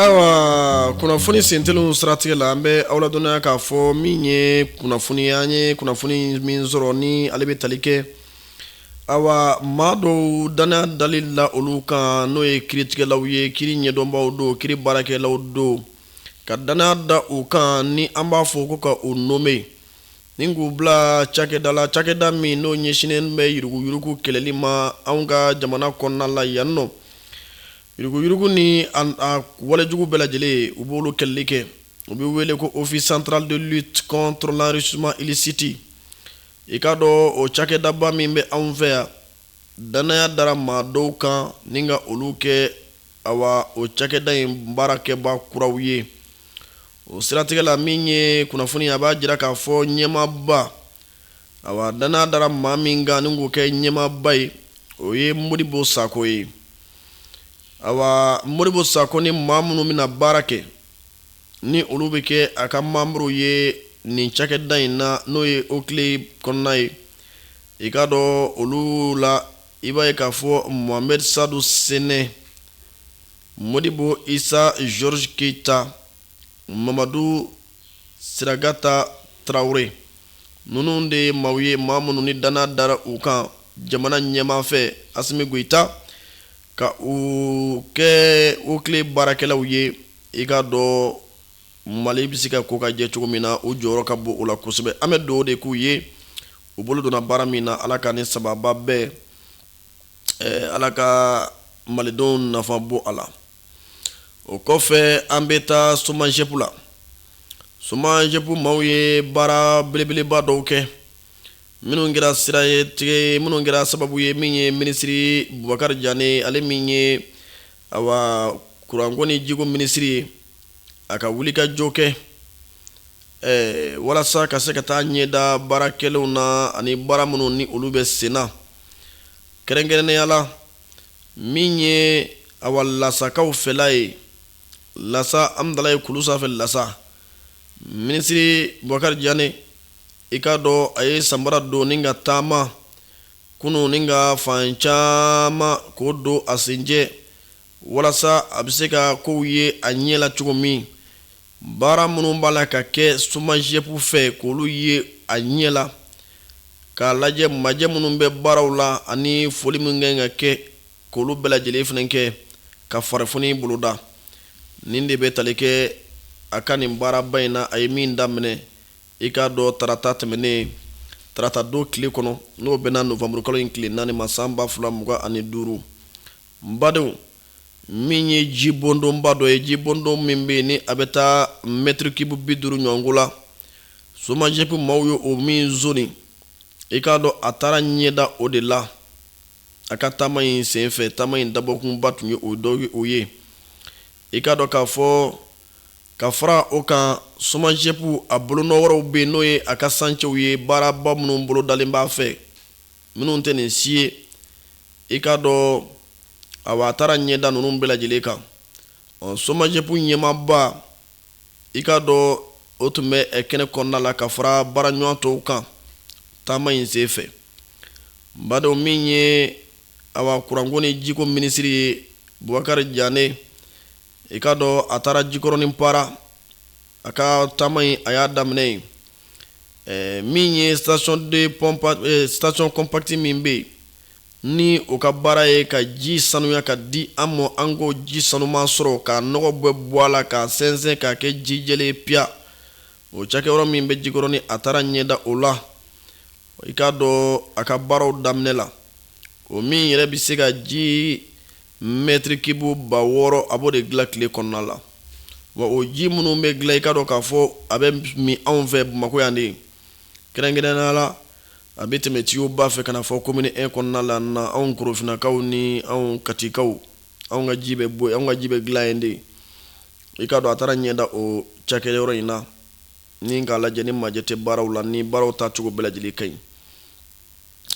ayiwa kunnafoni senteliw siratigɛ la an bɛ aw ladɔnniya k'a fɔ min ye kunnafoni an ye kunnafoni min sɔrɔ ni ale bɛ tali kɛ ayiwa maa dɔw danaya dali la olu kan n'o ye kiiritigɛlaw ye kiiri ɲɛdɔnbaw don kiiri baarakɛlaw don ka danaya da u kan ni an b'a fɔ ko ka u nome Ni k'u bila cakɛda la cakɛda min n'o ɲɛsinnen bɛ yuruguyurugu kɛlɛli ma anw ka jamana kɔnɔna la yan nɔ yuruguyurugu ni a walejugu bɛɛ lajɛlen u b'olu kɛlɛli kɛ u bɛ wele ko office central de lutte contre l'enrichissement illicite i k'a dɔn o cakɛdaba min bɛ anw fɛ yan danaya dara maa dɔw kan ni ka olu kɛ awa o cakɛda in baarakɛba kuraw ye o siratigɛ la min ye kunnafoni a b'a jira k'a fɔ ɲɛmaaba awa danaya dara maa min kan ni k'o kɛ ɲɛmaaba ye o ye modibo sako ye awa modibo sako ni maa minnu bɛna baara kɛ ni olu bɛ kɛ a ka manburu ye nin cakɛda in na n'o ye okile kɔnɔna ye i k'a dɔn olu la I b'a ye k'a fɔ Mohamed-Sadu Sene, Modibo Issa Georges Keita, Mamadou Siragata Traore, ninnu de ye maaw ye maa minnu ni danaya dara u kan jamana ɲɛmaa fɛ Assimi Goita, ka u kɛ okile baarakɛlaw ye, i k'a dɔn Mali bɛ se ka ko ka jɛ cogo min na u jɔyɔrɔ ka bon o la kosɛbɛ an bɛ dugawu de k'u ye u bolo donna baara min na ala k'a ni sababu bɛn ala ka malidenw nafa bɔ a la o kɔfɛ an bɛ taa somajɛpu la somajɛpu maaw ye baara belebeleba dɔw kɛ minnu kɛra sira ye tigɛ minnu kɛra sababu ye min ye minisiri bubakari jane ale min ye Ayiwa kuranko ni jiko minisiri ye a ka wulikajɔ kɛ walasa ka se ka taa ɲɛ da baara kɛlenw na ani baara minnu ni olu bɛ sen na kɛrɛnkɛrɛnnenya la min ye awa lasakaw fɛla ye lasa amdalaye kulu sanfɛ lasa minisiri bubakari jane i k'a dɔn a ye sanbara don ni ka taama kunun ni ka fan caman ko don a senjɛ walasa a bɛ se ka kow ye a ɲɛ la cogo min baara minnu b'a la ka kɛ somajɛpu fɛ k'olu ye a ɲɛ la k'a lajɛ majɛ minnu bɛ baaraw la ani foli min kan ka kɛ k'olu bɛɛ lajɛlen fana kɛ ka farifoni boloda nin de bɛ tali kɛ a ka nin baaraba in na a ye min daminɛ I k'a dɔn tarata tɛmɛnen tarata don tile kɔnɔ n'o bɛnna nowanburukalo in tile naani ma san ba fila mugan ani duuru n badenw min ye jibondonba dɔ ye jibondon min bɛ ni a bɛ taa mɛtirikibu bi duuru ɲɔgɔn la somajɛp maaw ye o min zoni i k'a dɔn a taara ɲɛda o de la a ka taama in senfɛ taama in dabɔkunba tun ye o dɔ ye o ye i k'a dɔn k'a fɔ ka fara o kan somajɛpu a bolonɔ wɛrɛw bɛ n'o ye a ka sancɛw ye baaraba minnu bolodalen b'a fɛ minnu tɛ nin si ye i k'a dɔn awa a taara ɲɛda ninnu bɛɛ lajɛlen kan ɔ somajɛpu ɲɛmaaba i k'a dɔn o tun bɛ kɛnɛ kɔnɔna la ka fara baaraɲɔgɔn tɔw kan taama in sen fɛ badenw min ye awa kuranko ni jiko minisiri ye bubakari jane i k'a dɔn a taara jikɔrɔni para a ka taama in a y'a daminɛ yen min ye station compacte min bɛ ni o ka baara ye ka ji sanuya k'a di an ma an k'o ji sanuman sɔrɔ ka nɔgɔ bɛɛ bɔ a la k'a sɛnsɛn k'a kɛ ji jɛlen piya o cakɛyɔrɔ min bɛ jikɔrɔni a taara ɲɛda o la i k'a dɔn a ka baaraw daminɛ la o min yɛrɛ bɛ se ka ji Mɛtirikibu ba wɔɔrɔ a b'o de dilan tile kɔnɔna la wa o ji minnu bɛ dilan i ka dɔn k'a fɔ a bɛ min anw fɛ bamakɔ yan de kɛrɛnkɛrɛnnenya la a bɛ tɛmɛ tiyoba fɛ ka na fɔ commune un kɔnɔna la na anw korofinakaw ni anw katikaw anw ka ji bɛ bɔ anw ka ji bɛ dilan yen de i ka dɔn a taara ɲɛda o cakɛyɔrɔ in na ni k'a lajɛ ni majɛ tɛ baaraw la ni baaraw taacogo bɛɛ lajɛlen ka ɲi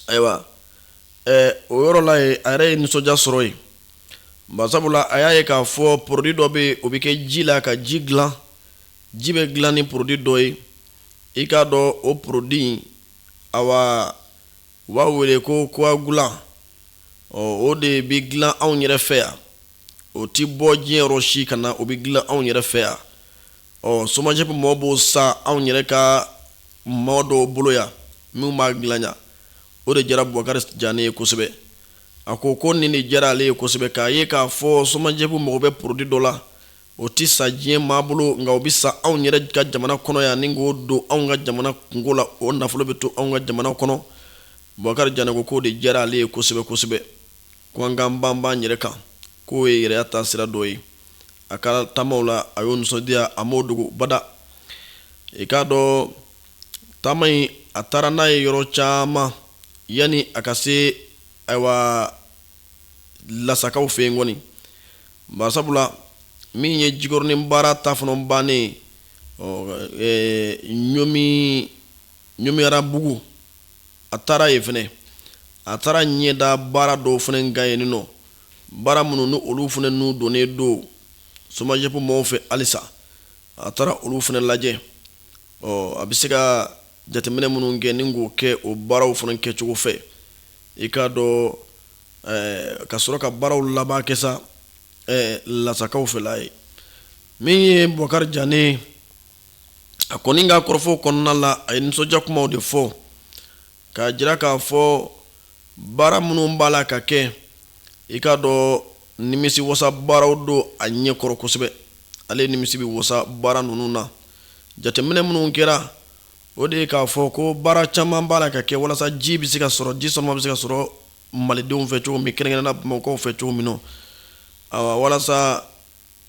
ayiwa o yɔrɔ la yen a yɛrɛ ye nisɔndiya sɔrɔ yen ba sabula a y'a ye k'a fɔ porodi dɔ bɛ o bɛ kɛ ji la ka ji dilan ji bɛ dilan ni porodi dɔ ye i k'a dɔn o porodi awa u b'a wele ko coagulant ɔ o de bɛ dilan anw yɛrɛ fɛ yan o tɛ bɔ diɲɛ yɔrɔ si ka na o bɛ dilan anw yɛrɛ fɛ yan Ɔ somajɛp mɔgɔ b'o san anw yɛrɛ ka mɔgɔ dɔw bolo yan minnu b'a dilan yan o de diyara bubakari jane ye kosɛbɛ a ko ko nin de diyara ale ye kosɛbɛ k'a ye k'a fɔ somajɛp mago bɛ porodi dɔ la o tɛ san diɲɛ maa bolo nka o bɛ san anw yɛrɛ ka jamana kɔnɔ yan ni k'o don anw ka jamana kungo la o nafolo bɛ to anw ka jamana kɔnɔ bubakari jane ko k'o de diyara ale ye kosɛbɛ kosɛbɛ ko an k'an banban yɛrɛ kan k'o ye yɛrɛta sira dɔ ye a ka taamaw la a y'o nisɔndiya a m'o dogo bada i k'a dɔn taama in a taara n'a ye yɔrɔ caman yanni a ka se ayiwa lasakaw fɛ yen kɔni barisabula min ye jikɔrɔnin para ta fana bannen ɲɔmi ɲɔmiyarabugu a taara yen fɛnɛ a taara ɲɛ da baara dɔw fɛnɛ kan yen nɔ baara minnu ni olu fɛnɛ n'u donnen don somajɛp maaw fɛ halisa a taara olu fɛnɛ lajɛ ɔ a bɛ se ka jateminɛ minnu kɛ ni k'o kɛ o baaraw fana kɛcogo fɛ i k'a dɔn ka sɔrɔ ka baaraw laban kɛ sa lasakaw fɛla ye min ye bubakari jane a kɔni ka kɔrɔfɔ kɔnɔna la a ye nisɔndiya kumaw de fɔ k'a jira k'a fɔ baara minnu b'a la ka kɛ i k'a dɔn nimisi wasa baaraw don a ɲɛ kɔrɔ kosɛbɛ ale nimisi bɛ wasa baara ninnu na jateminɛ minnu kɛra o de ye k'a fɔ ko baara caman b'a la ka kɛ walasa ji bɛ se ka sɔrɔ ji sanuman bɛ se ka sɔrɔ malidenw fɛ cogo min kɛrɛnkɛrɛnnenya bamakɔkaw fɛ cogo min na walasa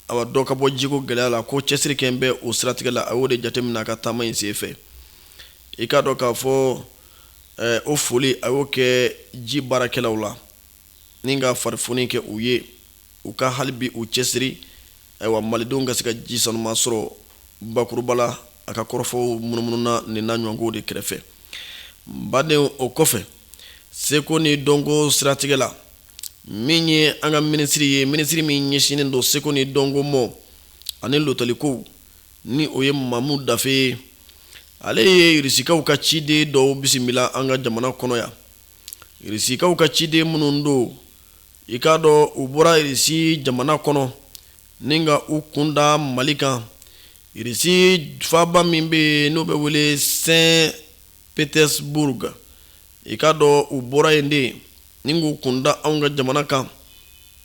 A dɔ ka bɔ jiko gɛlɛya la ko cɛsiri kɛ bɛ o siratigɛ la a y'o de jateminɛ a ka taama in sen fɛ i k'a dɔn k'a fɔ o foli a y'o kɛ ji baarakɛlaw la ni ka farifoni kɛ u ye u ka hali bi u cɛsiri ayiwa malidenw ka se ka ji sanuman sɔrɔ bakuruba la a ka kɔrɔfɔw munumununa nin n'a ɲɔgɔnkow de kɛrɛfɛ badenw o kɔfɛ seko ni dɔnko siratigɛ la min ye an ka minisiri ye minisiri min ɲɛsinnen don seko ni dɔnko mɔ ani lotalikow ni o ye mamu dafe ye ale ye irisikaw ka ciden dɔw bisimila an ka jamana kɔnɔ yan irisikaw ka ciden minnu don i k'a dɔn u bɔra irisi jamana kɔnɔ ni ka u kunda mali kan irisi faba min bɛ yen n'o bɛ wele sen petersburg i k'a dɔn u bɔra yen de ni k'u kunda anw ka jamana kan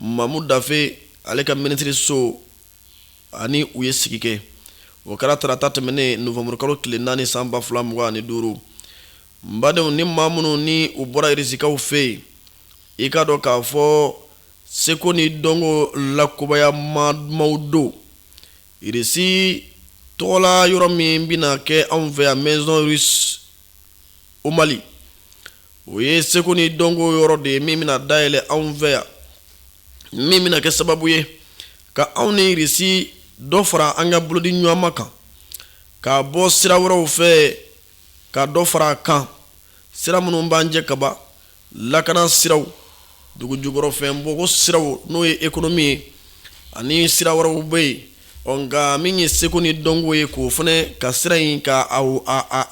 mamu dafe ale ka minisiriso ani u ye sigi kɛ o kɛra tarata tɛmɛnen nowanburukalo tile naani san ba fila mugan ani duuru n badenw ni maa minnu ni u bɔra irisikaw fɛ yen i k'a dɔn k'a fɔ seko ni dɔnko lakubaya ma maaw don irisi tɔgɔla yɔrɔ min bɛna kɛ anw fɛ yan maison au mali o ye seko ni dɔnko yɔrɔ de ye min bɛna dayɛlɛ anw fɛ yan min bɛna kɛ sababu ye ka anw ni irisi dɔ fara an ka bolodi ɲɔgɔnma kan ka bɔ sira wɛrɛw fɛ ka dɔ fara a kan sira minnu b'an cɛ kaba lakana siraw dugu jukɔrɔfɛn bɔko siraw n'o ye économie ye ani sira wɛrɛw bɛ yen ɔ nka min ye seko ni dɔnko ye k'o fana ka sira in ka a a a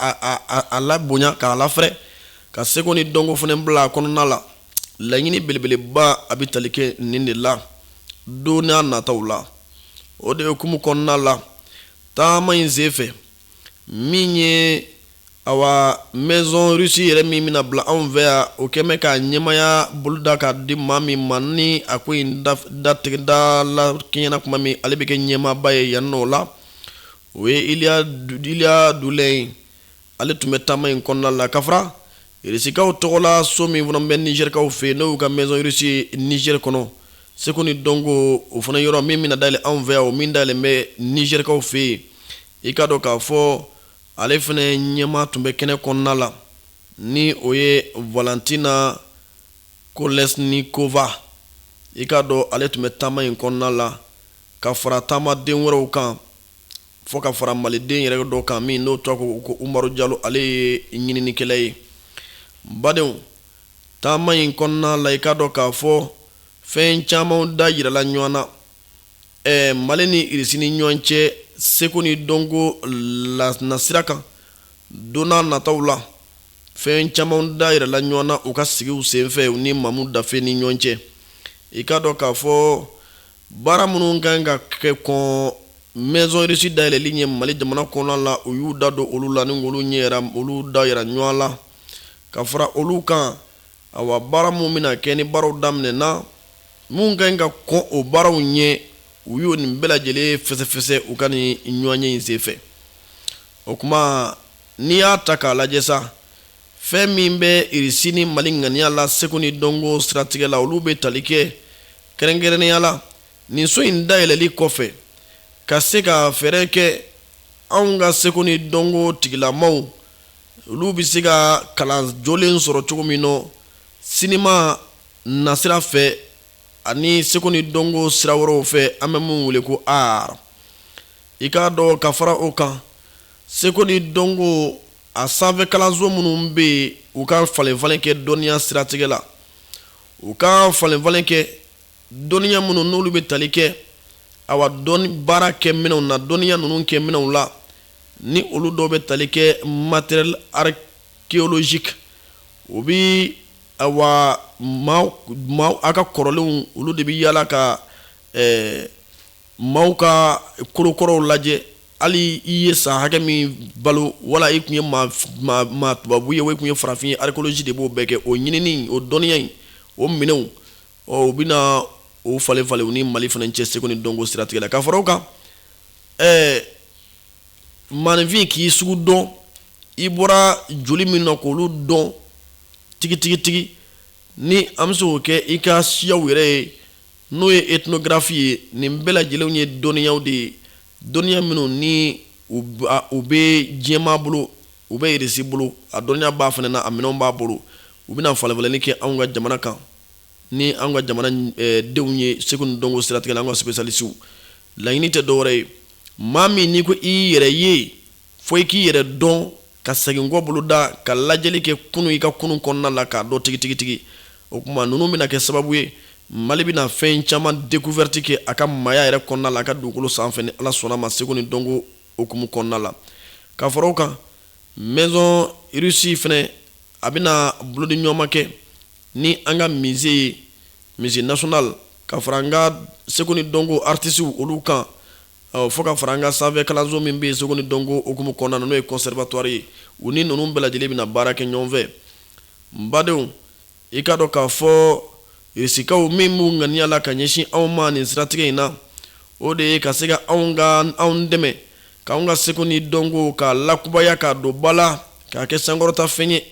a a labonya k'a lafɛrɛ ka seko ni dɔnko fana bila a kɔnɔna la laɲini belebeleba a bɛ tali kɛ nin de la don n'a nataw la o de hukumu kɔnɔna la taama in senfɛ min ye awa maison russe yɛrɛ min bɛna bila anw fɛ yan o kɛlen bɛ k'a ɲɛmaaya boloda k'a di maa min ma ni a ko in datigɛda la kɛɲɛna tuma min ale bɛ kɛ ɲɛmaaba ye yan nɔ la o ye iliya dulɛ ye ale tun bɛ taama in kɔnɔna la ka fara Irisikaw tɔgɔla so min fana bɛ nizɛrikaw fɛ yen n'o y'u ka maison russe nizɛri kɔnɔ seko ni dɔnko o fana yɔrɔ min bɛna dayɛlɛ anw fɛ yan o min dayɛlɛlen bɛ nizɛrikaw fɛ yen i k'a dɔn k'a fɔ ale fana ɲɛmaa tun bɛ kɛnɛ kɔnɔna la ni o ye valentina kolesnikova i k'a dɔn ale tun bɛ taama in kɔnɔna la ka fara taamaden wɛrɛw kan fo ka fara maliden yɛrɛ dɔ kan min n'o tɔgɔ ko ko umaru jalo ale ye ɲininikɛla ye badenw taama in kɔnɔna la i k'a dɔn k'a fɔ fɛn caman da jirala ɲɔgɔn na ɛɛ mali ni irisi ni ɲɔgɔn cɛ seko ni dɔnko nasira kan don n'a nataw la fɛn caman da jirala ɲɔgɔn na u ka sigiw senfɛ u ni mamu dafe ni ɲɔgɔn cɛ i k'a dɔn k'a fɔ Baara minnu kan ka kɛ kɔn maison russe dayɛlɛli ɲɛ mali jamana kɔnɔna la u y'u da don olu la ni olu ɲɛ olu da yira ɲɔgɔn la ka fara olu kan awa baara minnu bɛna kɛ ni baaraw daminɛna minnu kan ka kɔn o baaraw ɲɛ u y'o nin bɛɛ lajɛlen fɛsɛfɛsɛ u ka nin ɲɔgɔnye in senfɛ o tuma n'i y'a ta k'a lajɛ sa fɛn min bɛ irisi ni mali ŋaniya la seko ni dɔnko siratigɛ la olu bɛ tali kɛ kɛrɛnkɛrɛnnenya la nin so in dayɛlɛli kɔfɛ ka se ka fɛɛrɛ kɛ anw ka seko ni dɔnko tigilamaw olu bɛ se ka kalan jolen sɔrɔ cogo min nɔ sinima nasira fɛ ani seko ni dɔnko sira wɛrɛw fɛ an bɛ minnu wele ko art i k'a dɔn ka fara o kan seko ni dɔnko a sanfɛ kalanso minnu bɛ yen u ka falenfalen kɛ dɔnniya siratigɛ la u ka falenfalen kɛ dɔnniya minnu n'olu bɛ tali kɛ awa dɔn baarakɛminɛn na dɔnniya ninnu kɛ minɛnw la ni olu dɔw bɛ tali kɛ matériel archéologique o bɛ awa maa a ka kɔrɔlenw olu de bɛ yaala ka Maaw ka kolokɔrɔw lajɛ hali i ye san hakɛ min balo wala i kun ye maa tubabu ye wo i kun ye farafin ye archéologie de b'o bɛɛ kɛ o ɲinini o dɔnniya in o minɛnw ɔ u bɛna o falenfalen u ni mali fana cɛ seko ni dɔnko siratigɛ la ka fara o kan ɛɛ maaninfin k'i sugu dɔn i bɔra joli min na k' olu dɔn tigitigitigi ni an bɛ se k'o kɛ i ka siyaw yɛrɛ ye n'o ye etinografi ye nin bɛɛ lajɛlenw ye dɔnniyaw de ye dɔnniya minnu ni u bɛ diɲɛmaa bolo u bɛ irisi bolo a dɔnniya b'a fana na a minɛn b'a bolo u bɛna falenfalenni kɛ anw ka jamana kan ni an ka jamana denw ye seko ni dɔnko siratigɛ la an ka spécialistew laɲini tɛ dɔwɛrɛ ye maa min n'i ko i yɛrɛ ye fo i k'i yɛrɛ dɔn ka segin kɔ bolo da ka lajɛli kɛ kunun i ka kunun kɔnɔna la k'a dɔn tigitigitigi o kuma ninnu bɛna kɛ sababu ye mali bɛna fɛn caman découverte kɛ a ka maaya yɛrɛ kɔnɔna la a ka dugukolo sanfɛ ni ala sɔnna ma seko ni dɔnko hukumu kɔnɔna la ka fara o kan maison russie fɛnɛ a bɛna bolodiɲɔgɔnma kɛ ni an ka musée ye musée national ka fara an ka seko ni dɔnko artisiw olu kan Fo ka fara an ka sanfɛ kalanso min bɛ yen seko ni dɔnko hukumu kɔnɔna na n'o ye conservatoire ye u ni ninnu bɛɛ lajɛlen bɛna baara kɛ ɲɔgɔn fɛ n badenw i k'a dɔn k'a fɔ irisikaw min b'u ŋaniya la ka ɲɛsin anw ma nin siratigɛ in na o de ye ka se ka anw ka anw dɛmɛ k'an ka seko ni dɔnko k'a lakubaya k'a don ba la k'a kɛ sankɔrɔta fɛn ye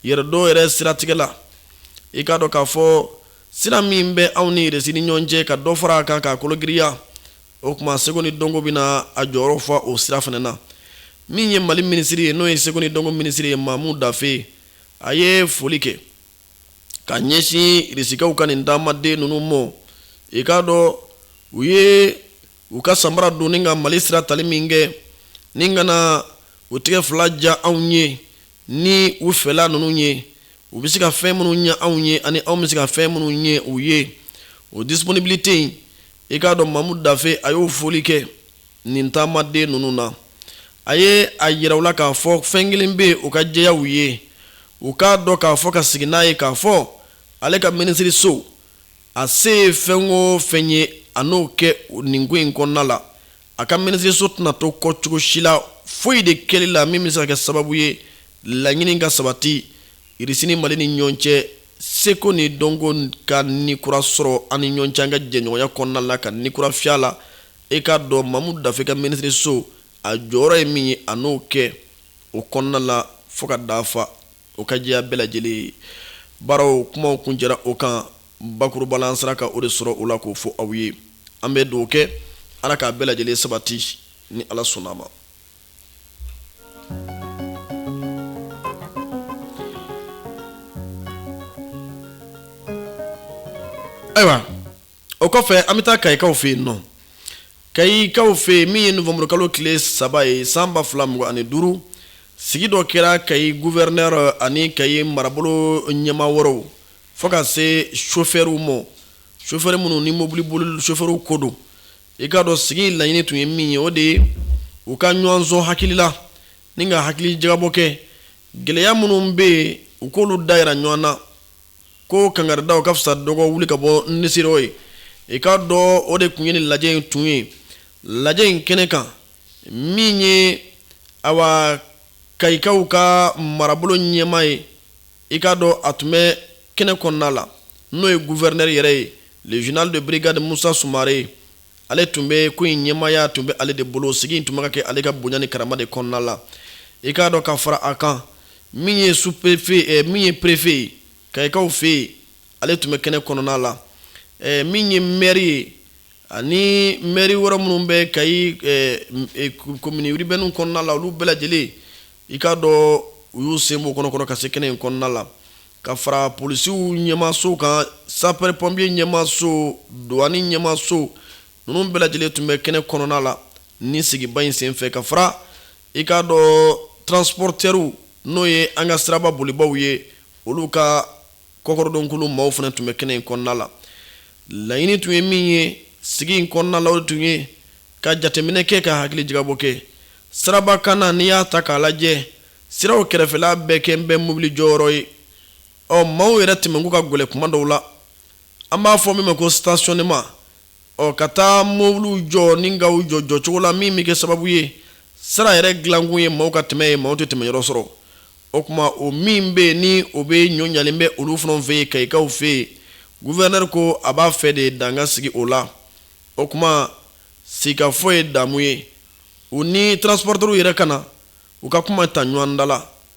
yɛrɛdɔn yɛrɛ siratigɛ la i k'a dɔn k'a fɔ sira min bɛ anw ni Irisi ni ɲɔgɔn cɛ ka dɔ fara a kan k'a kologiriya, o kuma seko ni dɔnko bɛna a jɔyɔrɔ fa o sira fana na. Min ye Mali minisiri ye, n'o ye seko ni dɔnko minisiri ye, Mamu Dafe, a ye foli kɛ ka ɲɛsin Irisikaw ka nin taamaden ninnu mɔ. I k'a dɔn u ye u ka samara don ni ka mali sira tali min kɛ ni ka na u tɛgɛ fila ja anw ye ni u fɛla ninnu ye u bɛ se ka fɛn minnu ɲɛ anw ye ani anw bɛ se ka fɛn minnu ɲɛ u ye o disponibilité in i k'a dɔn mamu dafe a y'o foli kɛ nin taamaden ninnu na a ye a yira u la k'a fɔ fɛn kelen bɛ o ka jɛya u ye u k'a dɔn k'a fɔ ka sigi n'a ye k'a fɔ ale ka minisiriso A se ye fɛn o fɛn ye a n'o kɛ nin ko in kɔnɔna la a ka minisiriso tɛna to kɔ cogo si la foyi de kɛli la min bɛ se ka kɛ sababu ye laɲini ka sabati irisi ni mali ni ɲɔgɔn cɛ seko ni dɔnko ka ni kura sɔrɔ an ni ɲɔgɔn cɛ an ka jɛɲɔgɔnya kɔnɔna la ka ni kura fiyɛ a la i k'a dɔn mamu dafe ka minisiriso a jɔyɔrɔ ye min ye a n'o kɛ o kɔnɔna la fo k'a dafa o ka jɛya bɛɛ lajɛlen ye baaraw kumaw kun jɛra o kan bakuruba la an sera ka o de sɔrɔ o la k'o fɔ aw ye an bɛ dugawu kɛ ala k'a bɛɛ lajɛlen sabati ni ala sɔnna a ma ayiwa o kɔfɛ an bɛ taa kayikaw fɛ yen nɔ kayikaw fɛ yen min ye nowanburukalo tile saba ye san ba fila mugan ani duuru sigi dɔ kɛra kayi gufɛrinɛri ani kayi marabolo ɲɛma wɛrɛw fo ka se sofɛriw ma sofɛri minnu ni mɔbili boli sofɛriw ko don i k'a dɔn sigi laɲini tun ye min ye o de ye u ka ɲɔgɔn sɔn hakili la ni ka hakili jagabɔ kɛ gɛlɛya minnu bɛ yen u k'olu dayira ɲɔgɔn na ko kangaridaw ka fisa dɔgɔ wuli ka bɔ nisi ye i k'a dɔn o de kun ye ni lajɛ in tun ye lajɛ in kɛnɛ kan min ye awa kayikaw ka marabolo ɲɛma ye i k'a dɔn a tun bɛ kɛnɛ kɔnɔna la n'o ye gufɛrinɛri yɛrɛ ye le général de brigade musa sumare ale tun bɛ ko in ɲɛmaya tun bɛ ale de bolo sigi tun bɛ ka kɛ ale ka bonya ni karama de kɔnɔna la i k'a dɔn ka fara a kan min ye su perefe eh, min ye perefe ye kayikaw fɛ yen ale tun bɛ kɛnɛ kɔnɔna la eh, min ye mɛri ye ani mɛri wɛrɛ minnu bɛ kayi eh, komini uribɛni kɔnɔna la olu bɛɛ lajɛlen i k'a dɔn u y'u sen bɔ kɔnɔkɔrɔ ka se kɛnɛ in kɔnɔna la ka fara polisiw ɲɛmaso kan sapɛri pɔnpiye ɲɛmaso dɔwani ɲɛmaso ninnu bɛɛ lajɛlen tun bɛ kɛnɛ kɔnɔna la ni sigiba in senfɛ ka fara I k'a dɔn transpɔrɔtɛriw n'o ye an ka siraba bolibaw ye olu ka kɔkɔrɔdonkulu maaw fana tun bɛ kɛnɛ in kɔnɔna la laɲini tun ye min ye sigi in kɔnɔna la o tun ye ka jateminɛ kɛ ka hakili jagabɔ kɛ siraba kan na n'i y'a ta k'a lajɛ siraw kɛrɛfɛla bɛɛ kɛlen bɛ mobili jɔyɔrɔ ye ɔ maaw yɛrɛ tɛmɛko ka gɛlɛn kuma dɔw la an b'a fɔ min ma ko stationnement ɔ ka taa mobiliw jɔ ni ka u jɔ jɔcogo la min bɛ kɛ sababu ye sira yɛrɛ dilankun ye maaw ka tɛmɛ ye maaw tɛ tɛmɛ yɔrɔ sɔrɔ o kuma o min bɛ ni o bɛ ɲɔ ɲalen bɛ olu fana fɛ yen kayikaw fɛ yen gufɛrinɛri ko a b'a fɛ de dan ka sigi o la o kuma sigikafɔ ye damu ye u ni transpɔrɔtɛriw yɛrɛ ka na u ka kuma ta ɲɔgɔn da la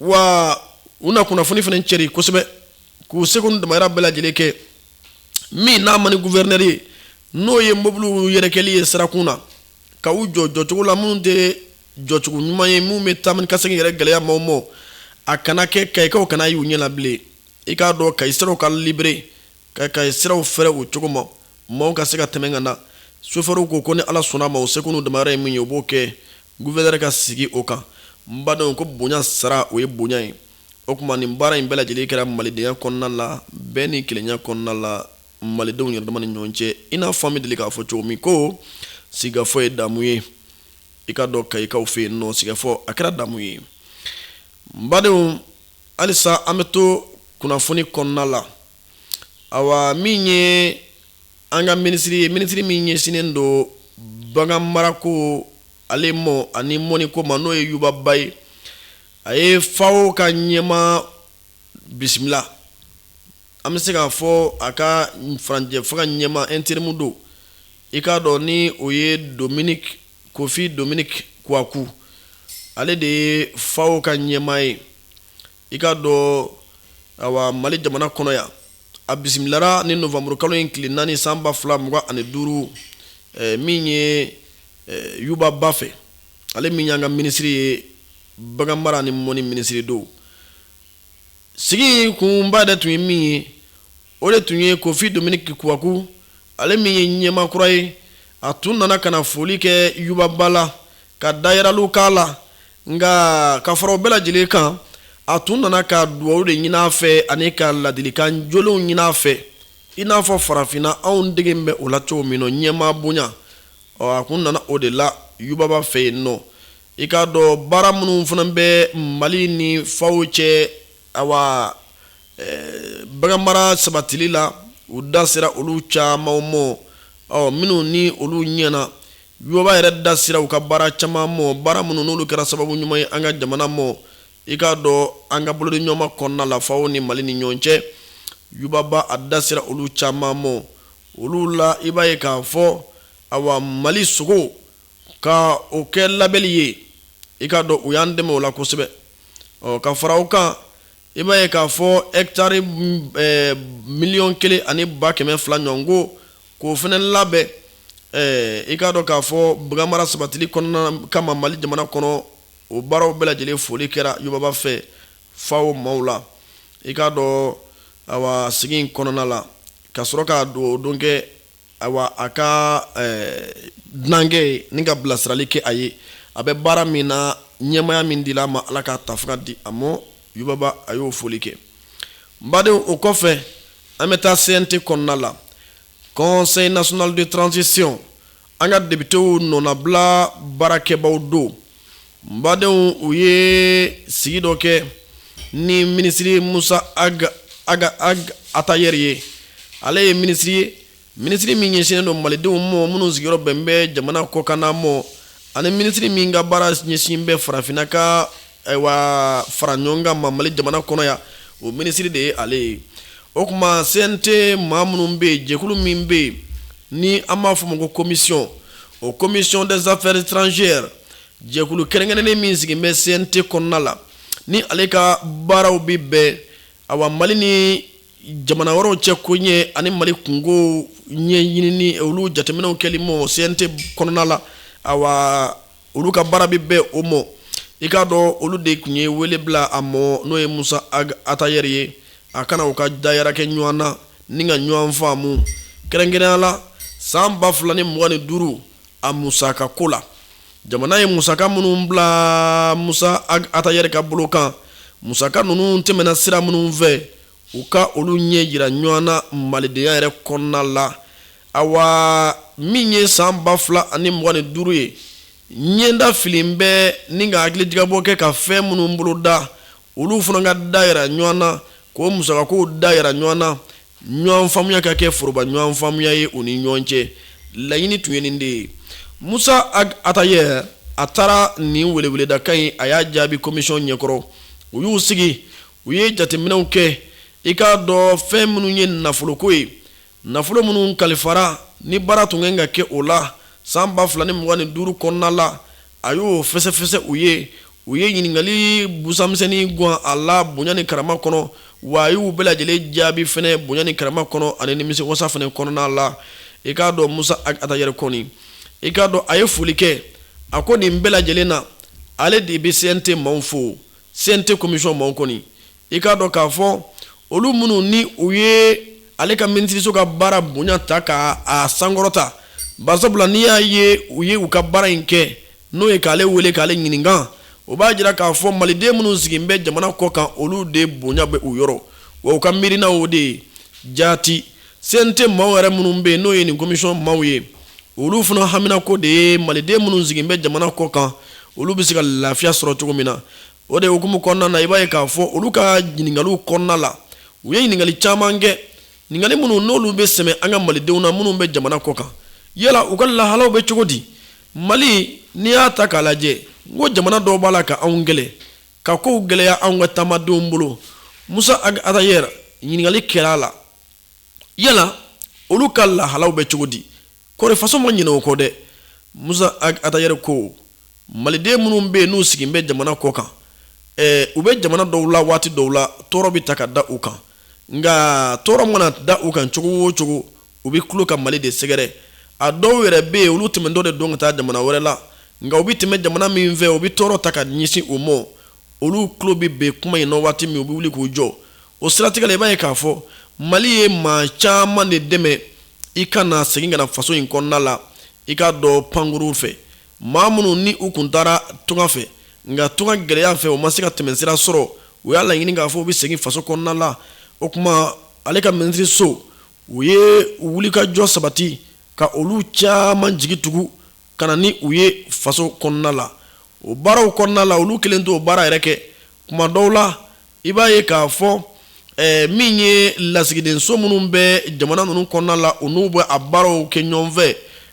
wa u na kunnafoni fana cɛri kosɛbɛ k'u seko ni damayira bɛɛ lajɛlen kɛ min n'a man di gufɛrinɛri ye n'o ye mobiliw yɛrɛkɛli ye sirakun na ka u jɔ jɔcogo la minnu tɛ jɔcogo ɲuman ye minnu bɛ taama ni ka segin yɛrɛ gɛlɛya maaw ma a kana kɛ kayikaw kana y'u ɲɛ la bilen i k'a dɔn kayi siraw ka libéré ka kayi siraw fɛrɛ o cogo ma maaw ka se ka tɛmɛ ka na sofɛriw ko ko ni ala sɔnna a ma u seko n'u damayira ye min ye u b'o kɛ Gufɛrɛnɛri ka sigi o kan n badenw ko bonya sara o ye bonya ye o kuma nin baara in bɛɛ lajɛlen kɛra malidenya kɔnɔna la bɛɛ ni kelenya kɔnɔna la malidenw yɛrɛ dama ni ɲɔgɔn cɛ i n'a fɔ an bɛ deli k'a fɔ cogo min ko sigafɔ ye damu ye i k'a dɔn kayikaw fɛ yen nɔ sigafɔ a kɛra damu ye n badenw halisa an bɛ to kunnafoni kɔnɔna la ayiwa min ye an ka minisiri ye minisiri min ɲɛsinnen don bagan mara ko ale mɔ ani mɔni ko ma n'o ye yuba ba ye a ye FAO ka ɲɛma bisimila an bɛ se k'a fɔ a ka furancɛ fanga ɲɛma interimu don i k'a dɔn ni o ye dominiki kofi dominiki kuwaku ale de ye FAO ka ɲɛma ye i k'a dɔn awa mali jamana kɔnɔ yan a bisimilara ni nowanburu kalo in tile naani san ba fila mugan ani duuru eh, min ye eh, yuba ba fɛ ale min y'an ka minisiri ye bagan mara ni mɔni minisiri don sigi kunba de tun ye min ye o de tun ye kofi dominiki kuwaku ale min ye ɲɛma kura ye a tun nana ka na foli kɛ yuba ba la ka dayiraliw k'a la nka ka fara o bɛɛ lajɛlen kan a tun nana ka dugawu de ɲini a fɛ ani ka ladilikan jolenw ɲini a fɛ i n'a fɔ farafinna anw dege bɛ o la cogo min nɔ ɲɛmaa bonya a tun nana o de la yuba ba fɛ yen nɔ i k'a dɔn baara minnu fana bɛ mali ni FAO cɛ ayiwa bagan mara sabatili la u da sera olu caman mɔ ɔ minnu ni olu ɲɛna yuba ba yɛrɛ da sera u ka baara caman mɔ baara minnu n'olu kɛra sababu ɲuman ye an ka jamana mɔ i k'a dɔn an ka bolodiɲɔgɔnma kɔnɔna la FAO ni mali ni ɲɔgɔn cɛ yuba ba a da sera olu caman mɔ olu la i b'a ye k'a fɔ awa mali sogo ka o kɛ labɛnli ye i k'a dɔn u y'an dɛmɛ o la kosɛbɛ ɔ ka fara o kan i b'a ye k'a fɔ ɛkitari miliyɔn kelen ani ba kɛmɛ fila ɲɔgɔn ko k'o fana labɛn i k'a dɔn k'a fɔ bagan mara sabatili kɔnɔna kama mali jamana kɔnɔ o baaraw bɛɛ lajɛlen foli kɛra yuba ba fɛ FAO maaw la i k'a dɔn awa sigi in kɔnɔna la ka sɔrɔ ka duga don kɛ Ayiwa a ka dunankɛ ye ni ka bilasirali kɛ a ye a bɛ baara min na ɲɛmaya min dila a ma ala k'a tafanga di a ma yuba ba a y'o foli kɛ n badenw o kɔfɛ an bɛ taa CNT kɔnɔna la Conseil national de transition an ka depitew nɔnabila baarakɛbaaw don badenw u ye sigi dɔ kɛ ni minisiri musa ag atayɛri ye ale ye minisiri ye minisiri min ɲɛsinnen don malidenw ma minnu sigiyɔrɔ bɛn bɛ jamana kɔkanna mɔ ani minisiri min ka baara ɲɛsin bɛ farafinna ka ayiwa fara ɲɔgɔn kan ma mali jamana kɔnɔ yan o minisiri de ye ale ye o tuma CNT maa minnu bɛ yen jɛkulu min bɛ yen ni an b'a fɔ o ma ko komisɔn o commission des affaires étrangères jɛkulu kɛrɛnkɛrɛnnen min sigilen bɛ CNT kɔnɔna la ni ale ka baaraw bɛ bɛn awa Mali ni jamana wɛrɛw cɛ ko ɲɛ ani Mali kunkow ɲɛɲinini olu jateminɛw kɛli mɔ CNT kɔnɔna la awa olu ka baara bɛ bɛn o mɔ i k'a dɔn olu de tun ye wele bila a mɔ n'o ye Musa Ag Atayɛri ye a ka na u ka dayira kɛ ɲɔgɔn na Ni ka ɲɔgɔn faamu kɛrɛnkɛrɛnya la san ba fila ni mugan ni duuru a musakako la jamana ye musaka minnu bila musa atayɛri ka bolo kan musaka ninnu tɛmɛna sira minnu fɛ u ka olu ɲɛ yira ɲɔgɔn na malidenya yɛrɛ kɔnɔna la a min ye san ba fila ani mugan ni duuru ye ɲɛda fili bɛ ni ka hakilijagabɔ kɛ ka fɛn minnu boloda olu fana ka da yira ɲɔgɔn na k'o musakakow da yira ɲɔgɔn na ɲɔgɔn faamuya ka kɛ foroba ɲɔgɔn faamuya ye u ni ɲɔgɔn cɛ laɲini tun ye nin de ye musa ag atayɛri a taara nin weleweledakan in a y'a jaabi komisɔn ɲɛkɔrɔ u y'u sigi u ye jateminɛw kɛ i k'a dɔn fɛn minnu ye nafoloko ye Nafolo minnu kalifara ni baara tun kan ka kɛ o la san 2025 kɔnɔna la, a y'o fɛsɛfɛsɛ u ye. U ye ɲininkali busamisɛnnin gwan a la bonya ni karama kɔnɔ, wa a y'u bɛɛ lajɛlen jaabi fɛnɛ bonya ni karama kɔnɔ ani nimisiwasa fɛnɛ kɔnɔna la. I k'a dɔn Musa Ag Atayɛri kɔni, i k'a dɔn a ye foli kɛ, a ko nin bɛɛ lajɛlen na, ale de bɛ CNT maaw fo. CNT komisɔn maaw kɔni, i k'a dɔn k'a fɔ olu minnu ni u ye ale ka minisiriso ka baara bonya ta k'a sankɔrɔta bari sabula n'i y'a ye u ye u ka baara in kɛ n'o ye k'ale wele k'ale ɲininka o b'a jira k'a fɔ maliden minnu sigi bɛ jamana kɔ kan olu de bonya bɛ u yɔrɔ wa u ka miirina o de ye jaati CNT maaw yɛrɛ minnu bɛ yen n'o ye nin komisɔn maaw ye olu fana haminanko de ye maliden minnu sigi bɛ jamana kɔ kan olu bɛ se ka lafiya sɔrɔ cogo min na O de hukumu kɔnɔna na i b'a ye k'a fɔ olu ka ɲininkaliw kɔnɔna la u ye ɲininkali caman kɛ ɲininkali minnu n'olu bɛ sɛmɛ an ka malidenw na minnu bɛ jamana kɔ kan yala u ka lahalaw bɛ cogo di mali n'i y'a ta k'a lajɛ n ko jamana dɔw b'a la ka anw gɛn ka kow gɛlɛya anw ka taamadenw bolo musa atayɛri ɲininkali kɛra a la yala olu ka lahalaw bɛ cogo di kɔri faso ma ɲinɛ u kɔ dɛ musa atayɛri ko maliden minnu bɛ yen n'u sigilen bɛ jamana kɔ kan u bɛ jamana dɔw la waati dɔw la tɔɔrɔ bɛ ta ka da u kan nka tɔɔrɔ mana da u kan cogo o cogo u bɛ kulo ka mali de sɛgɛrɛ a dɔw yɛrɛ bɛ yen olu tɛmɛtɔ de don ka taa jamana wɛrɛ la nka u bɛ tɛmɛ jamana min fɛ u bɛ tɔɔrɔ ta ka ɲɛsin u ma olu kulo bɛ bɛn kuma in waati min u bɛ wuli k'u jɔ o siratigɛ la i b'a ye k'a fɔ mali ye maa caman de dɛmɛ i ka na segin ka na faso in kɔnɔna la i k'a dɔn pankurun fɛ maa minnu ni u tun taara tunga fɛ nka tunga gɛlɛya fɛ u ma se ka tɛmɛsira sɔrɔ u y'a laɲini k'a fɔ u bɛ segin faso kɔnɔna la o tuma ale ka minisiriso u ye wulikajɔ sabati ka olu caman jigi tugu ka na ni u ye faso kɔnɔna la o baaraw kɔnɔna la olu kelen t'o baara yɛrɛ kɛ tuma dɔw la i b'a ye k'a fɔ eh, min ye lasigidenso minnu bɛ jamana ninnu kɔnɔna la u n'u bɛ a baaraw kɛ ɲɔgɔn fɛ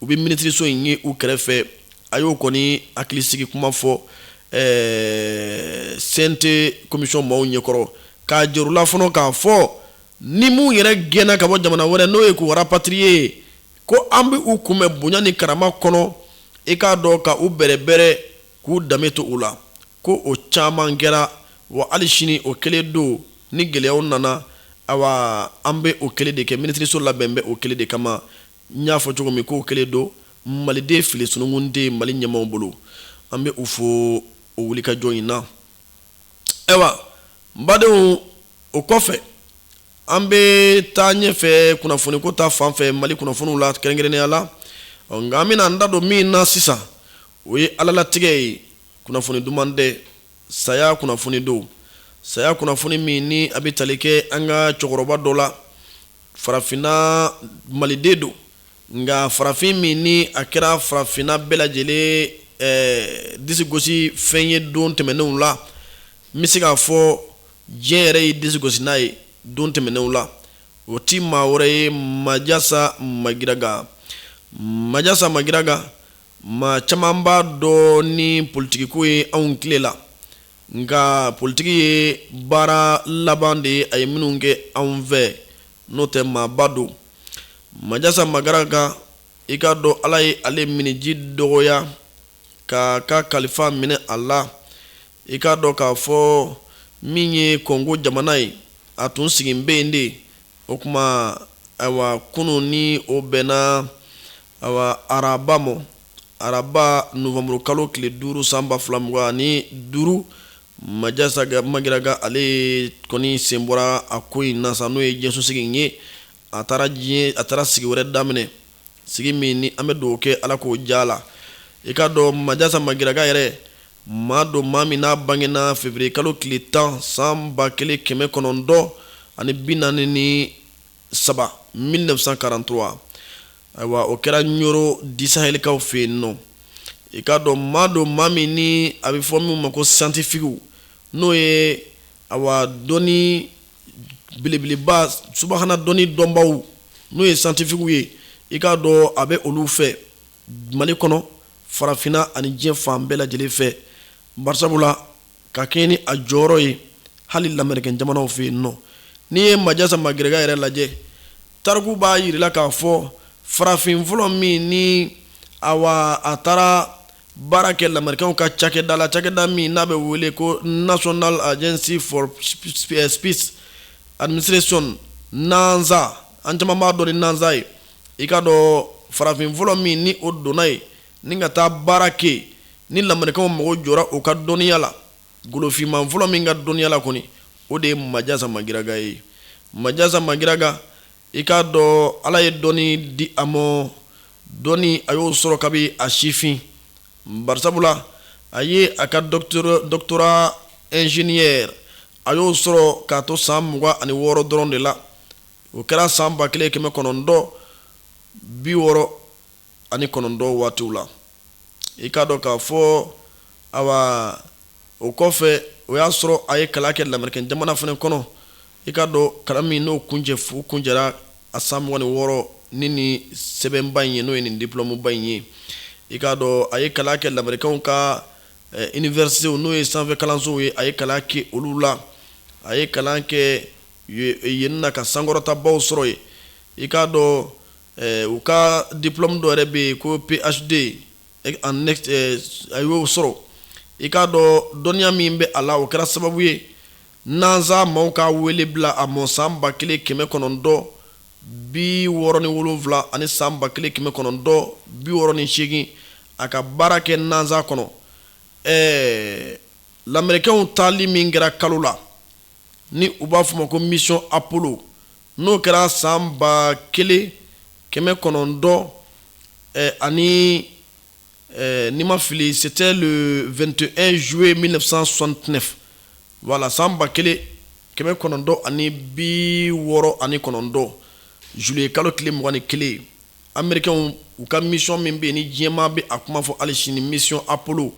u bɛ minisiriso in ye u kɛrɛfɛ a y'o kɔni hakilisigi kuma fɔ CNT komisiyɔn maaw ɲɛkɔrɔ k'a jira u la fana k'a fɔ ni minnu yɛrɛ gɛnna ka bɔ jamana wɛrɛ n'o ye k'u rapatrier ko an bɛ u kunbɛn bonya ni karama kɔnɔ i k'a dɔn ka u bɛrɛbɛrɛ k'u danbe to u la ko o caman kɛra wa hali sini o kelen don ni gɛlɛyaw nana ayiwa an bɛ o kelen de kɛ minisiriso labɛn bɛ o kelen de kama N y'a fɔ cogo min k'o kelen don maliden fili sununkun tɛ mali ɲɛmaaw bolo an bɛ u fo o wulikajɔ in na ayiwa n badenw o kɔfɛ an bɛ taa ɲɛfɛ kunnafoniko ta fan fɛ mali kunnafoniw la kɛrɛnkɛrɛnnenya la nka an bɛna an da don min na sisan o ye alalatigɛ ye kunnafoni duman tɛ saya kunnafoni don saya kunnafoni min ni a bɛ tali kɛ an ka cɛkɔrɔba dɔ la farafinna maliden don nka farafin min ni a kɛra farafinna bɛɛ lajɛlen eh, disigosi fɛn ye don tɛmɛnenw la n bɛ se k'a fɔ diɲɛ yɛrɛ ye disigosi n'a ye don tɛmɛnenw la o ti maa wɛrɛ ye majasa magiraga majasa magiraga Maa caman b'a dɔn ni politikiko ye anw tile la nka politiki ye baara laban de ye a ye minnu kɛ anw fɛ n'o tɛ maaba don majasa magiraga i k'a dɔn ala ye ale minniji dɔgɔya k'a ka kalifa minɛ a la i k'a dɔn k'a fɔ min ye kongo jamana ye a tun sigilen bɛ yen de O tuma ayiwa kunun ni o bɛnna ayiwa araba ma araba nowanburu kalo tile duuru san ba fila mugan ani duuru majasa magiraga ale kɔni sen bɔra a ko in na sa n'o ye diɲɛsosigi in ye a taara diɲɛ a taara sigi wɛrɛ daminɛ sigi min ni an bɛ dugawu kɛ ala k'o diya a la i k'a dɔn majasa magiraga yɛrɛ maa don maa min n'a bangena février kalo tile tan san ba kelen kɛmɛ kɔnɔntɔn ani bi naani ni saba mille neuf cent quarante-trois ayiwa o kɛra ɲɔrɔ du sahɛlikaw fɛ yen nɔ i k'a dɔn maa don maa min ni a bɛ fɔ min ma ko scientifique n'o ye awa dɔn belebeleba subahana dɔnni dɔnbaw n'o ye scientifiquew ye i k'a dɔn a bɛ olu fɛ mali kɔnɔ farafinna ani diɲɛ fan bɛɛ lajɛlen fɛ barisabu la ka kɛɲɛ ni a jɔyɔrɔ ye hali lamɛrikɛn jamanaw fɛ yen nɔ n'i ye majasa magiraga yɛrɛ lajɛ tariku b'a yirala k'a fɔ farafin fɔlɔ min ni awa a taara baara kɛ lamɛrikɛnw ka cakɛda la cakɛda min n'a bɛ wele ko national agency for space administration nasa an caman b'a dɔn ni nasa ye i k'a dɔn farafin fɔlɔ min ni o donna yen ni ka taa baara kɛ ni lamɛrikɛnw mago jɔra o ka dɔnniya la golofinman fɔlɔ min ka dɔnniya la kɔni o de ye majasa magiraga ye majasa magiraga I k'a dɔn ala ye dɔnni di a ma dɔnni a y'o sɔrɔ kabi a sifin barisabula a ye a ka doctorat ingénieur a y'o sɔrɔ k'a to san mugan ani wɔɔrɔ dɔrɔn de la o kɛra san ba kelen kɛmɛ kɔnɔntɔn bi wɔɔrɔ ani kɔnɔntɔn waatiw la i k'a dɔn k'a fɔ awa o kɔfɛ o y'a sɔrɔ a ye kalan kɛ lamɛrikɛn jamana fana kɔnɔ i k'a dɔn kalan min n'o kuncɛra a san mugan ni wɔɔrɔ ni nin sɛbɛnba in ye n'o ye nin diplomeba in ye i k'a dɔn a ye kalan kɛ lamɛrikɛnw ka universitéw n'o ye sanfɛ kalansow ye a ye kalan kɛ olu la a ye kalan kɛ yen na ka sankɔrɔtabaw sɔrɔ yen i k'a dɔn u ka diplome dɔ yɛrɛ bɛ yen ko PHD a y'o sɔrɔ i k'a dɔn dɔnniya min bɛ a la o kɛra sababu ye NASA maaw ka wele bila a mɔ san 1967 ani san 1968 a ka baara kɛ NASA kɔnɔ ɛɛ lamɛrikɛnw taali min kɛra kalo la ni u b'a fɔ o ma ko mission Apollo n'o kɛra san ba kelen kɛmɛ kɔnɔntɔn ani ni n ma fili c'était le vingt et un juillet mille neuf cent soixante-neuf wala san ba kelen kɛmɛ kɔnɔntɔn ani bi wɔɔrɔ ani kɔnɔntɔn juillet kalo tile mugan ni kelen amerikɛnw u ka mission min bɛ yen ni diɲɛ maa bɛ a kuma fɔ hali sini mission apollo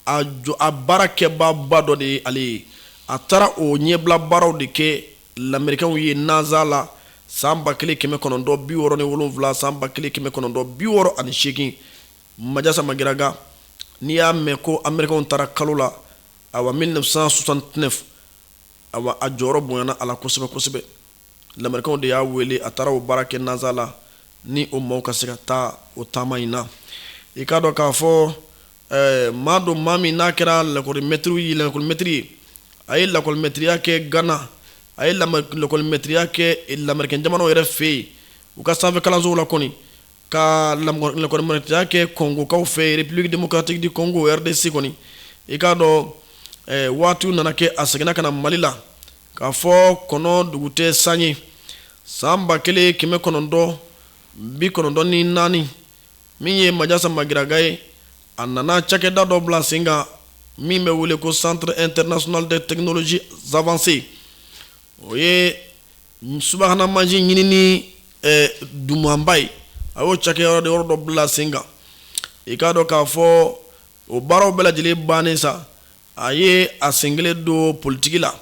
apolo a baarakɛbaaba dɔ de ye ale ye a taara o ɲɛbila baaraw de kɛ lamerikɛnw ye nasa la san ba kelen kɛmɛ kɔnɔntɔn bi wɔɔrɔ ni wolonwula san ba kelen kɛmɛ kɔnɔntɔn bi wɔɔrɔ ani seegin majasa magiraga n'i y'a mɛn ko amerikɛnw taara kalo la awa 1969 awa a jɔyɔrɔ bonyana a la kosɛbɛ kosɛbɛ lamerikɛnw de y'a wele a taara o baara kɛ nasa la ni o maaw ka se ka taa o taama in na i k'a dɔn k'a fɔ Ɛɛ maa don maa min n'a kɛra lakɔlimɛtiri ye lakɔlimɛtiri ye a ye lakɔlimɛtiriya kɛ Gana a ye lakɔlimɛtiriya kɛ lamerikɛn jamanaw yɛrɛ fɛ yen u ka sanfɛ kalansow la kɔni ka lakɔlimɛtiriya kɛ Kɔngokaw fɛ yen République démocratique du Congo RDC kɔni i k'a dɔn waatiw nana kɛ a seginna ka na Mali la k'a fɔ kɔnɔ dugu tɛ san ye san 1994 min ye majasa magiraga ye a nana cakɛda dɔ bila sen kan min bɛ wele ko centre international de technologie avancée o ye subahana mansin ɲinini eh, dumanba ye a y'o cakɛyɔrɔ de yɔrɔ dɔ bila sen kan i k'a dɔn k'a fɔ o baaraw bɛɛ lajɛlen bannen sa a ye a sen kelen don politiki la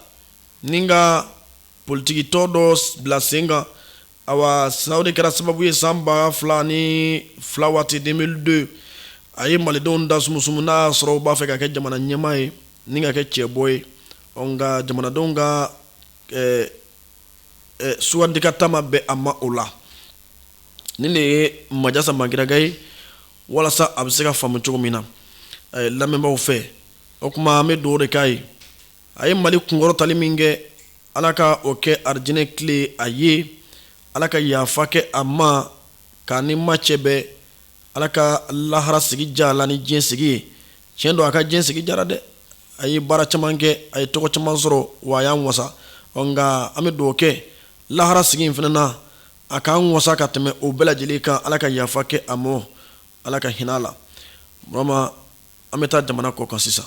ni ka politikitɔn dɔ bila sen kan awa sa o de kɛra sababu ye san ba fila ni fila waati 2002 a ye malidenw da sumusumu n'a y'a sɔrɔ u b'a fɛ k'a kɛ jamana ɲɛmaa ye ni ka kɛ cɛbɔ ye nka jamanadenw ka sugandi kalata ma bɛn a ma o la nin de ye majasa magiraga ye walasa a bɛ se ka faamu cogo min na lamɛnbaaw fɛ o kuma an bɛ dugawu de k'a ye a ye mali kunkɔrɔtali min kɛ ala ka o kɛ arijinɛ kile a ye ala ka yafa kɛ a ma k'a ni ma cɛ bɛn ala ka lahara sigi diya a la ni diɲɛ sigi ye tiɲɛ don a ka diɲɛ sigi diyara dɛ a ye baara caman kɛ a ye tɔgɔ caman sɔrɔ wa a y'an wasa nka an bɛ dugawu kɛ lahara sigi in fana na a k'an wasa ka tɛmɛ o bɛɛ lajɛlen kan ala ka yafa kɛ a ma ala ka hinɛ a la vraiment an bɛ taa jamana kɔkan sisan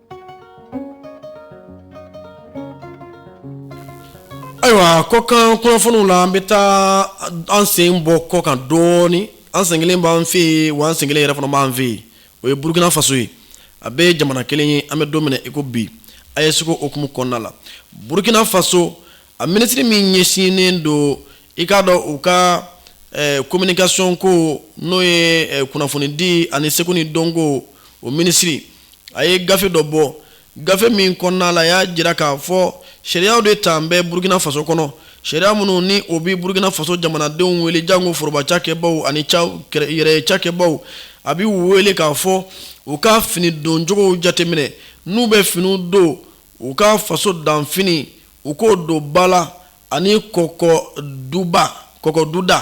Ayiwa kɔkan kunnafoniw la an bɛ taa an sen bɔ kɔkan dɔɔnin an sen kelen b'an fɛ yen wa an sen kelen yɛrɛ fana b'an fɛ yen o ye burukina faso ye a bɛɛ ye jamana kelen ye an bɛ don min na i ko bi AES ko hukumu kɔnɔna la burukina faso a minisiri min ɲɛsinnen don i k'a dɔn u ka kominikason ko n'o ye kunnafonidi ani seko ni dɔnko o minisiri a ye gafe dɔ bɔ gafe min kɔnɔna la y'a jira k'a fɔ sariyaw de talen bɛ burukina faso kɔnɔ sariya minnu ni o bɛ burukina faso jamanadenw wele janko foroba cakɛbaw ani yɛrɛ cakɛbaw a b'u wele k'a fɔ u ka fini doncogow jateminɛ n'u bɛ finiw don u ka faso danfini u k'o don ba la ani kɔkɔ duba kɔkɔ duda